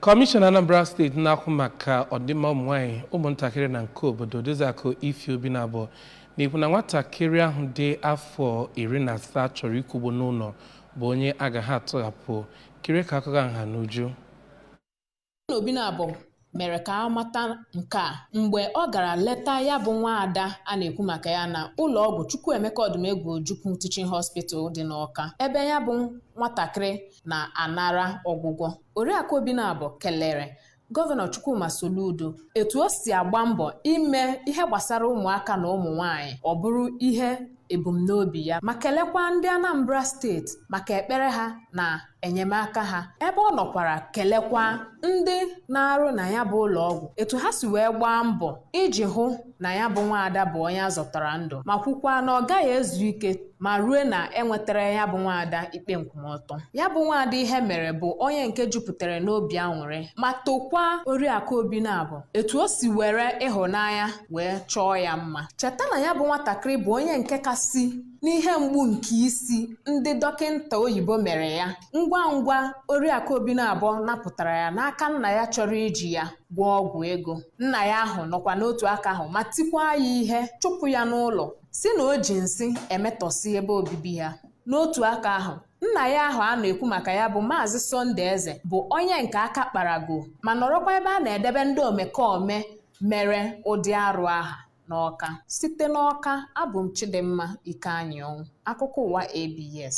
Kọmishọna Anambra steeti na-ahụ maka ọdịmma ụmụnwaanyị ụmụntakịrị na nke obodo Odoziakụ Ify Obinabo na-ekwu na nwatakịrị ahụ dị afọ iri na asaa chọrọ ịkwụgbu n'ụlọ bụ onye agaghị atụghapụ kiri ka akụkọ nha n'uju Obinabo mere ka a mata nke a mgbe ọ gara leta ya bụ nwa ada a na-ekwu maka ya na ụlọ ọgwụ Chukwuemeka Ọdụmegwu Ojukwu Teaching Hospital dị n'Awka ebe ya bụ nwatakịrị na-anara ọgwụgwọ oriakụ Obinabo kelere gọvanọ chukwuma soludo etu o si agba mbọ ime ihe gbasara ụmụaka na ụmụ nwanyị ọ bụrụ ihe ebumnobi ya ma kelekwa ndị anambra steeti maka ekpere ha na enyemaka ha ebe ọ nọkwara kelekwa ndị na-arụ na ya bụ ụlọ ọgwụ etu ha si wee gbaa mbọ iji hụ na ya bụ nwaada bụ onye azọtara ndụ ma kwukwaa na ọ gaghị ezu ike ma ruo na enwetara ya bụ nwaada ikpe nkwụmọtọ ya bụ nwaada ihe mere bụ onye nke jupụtara n'obi aṅụrị ma tokwaa oriakụ Obinabo etu o si were ịhụnanya wee chọọ ya mma cheta na ya bụ nwatakịrị bụ onye nke kasị n'ihe mgbu nke isi ndị dọkịnta oyibo mere ya ngwa ngwa oriakụ Obinabo napụtara ya n'aka nna ya chọrọ iji ya gwọọ ọgwụ ego nna ya ahụ nọkwa n'otu aka ahụ ma tikwaa ya ihe chụpụ ya n'ụlọ sị na o ji nsị emetọsị ebe obibi ha n'otu aka ahụ nna ya ahụ a na-ekwu maka ya bụ maazị Sunday Eze bụ onye nke aka kparago ma nọrọkwa ebe a na-edebe ndị omekome mere ụdị arụ aha n'Ọka site n'Ọka abụ m Chidimma Ikeanyịọnwụ akụkọ ụwa ABS